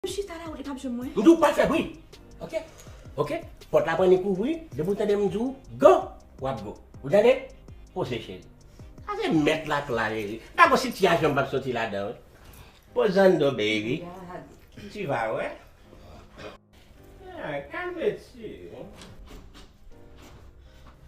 M chita la ou gen kap jwenn mwen. M di w pa fè bri ok ok pòt la pran li kouvri depi w tande m di w go wap go ou tande poze cheri afe mèt la k la reri pa gon sitiyasyon m pap soti ladan l pozando baby tu va wè ah calme tu.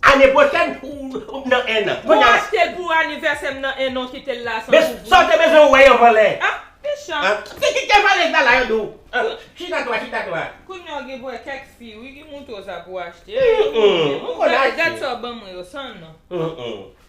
Ane pwochèn oubyn nan 1 an. Mwen achtel pou anivèsèm nan 1 an kitel la san kouvri. Sa ou te bezwen wè yo vòlè. Ah mechan. Se ki te vòlè sa la yo di w. Chita to a chita to a. Kounya w gen pou wè kèk fi wi ki montre w sa pou w achte. Humm m konn achte. Gad sa w banm mwen yo san non.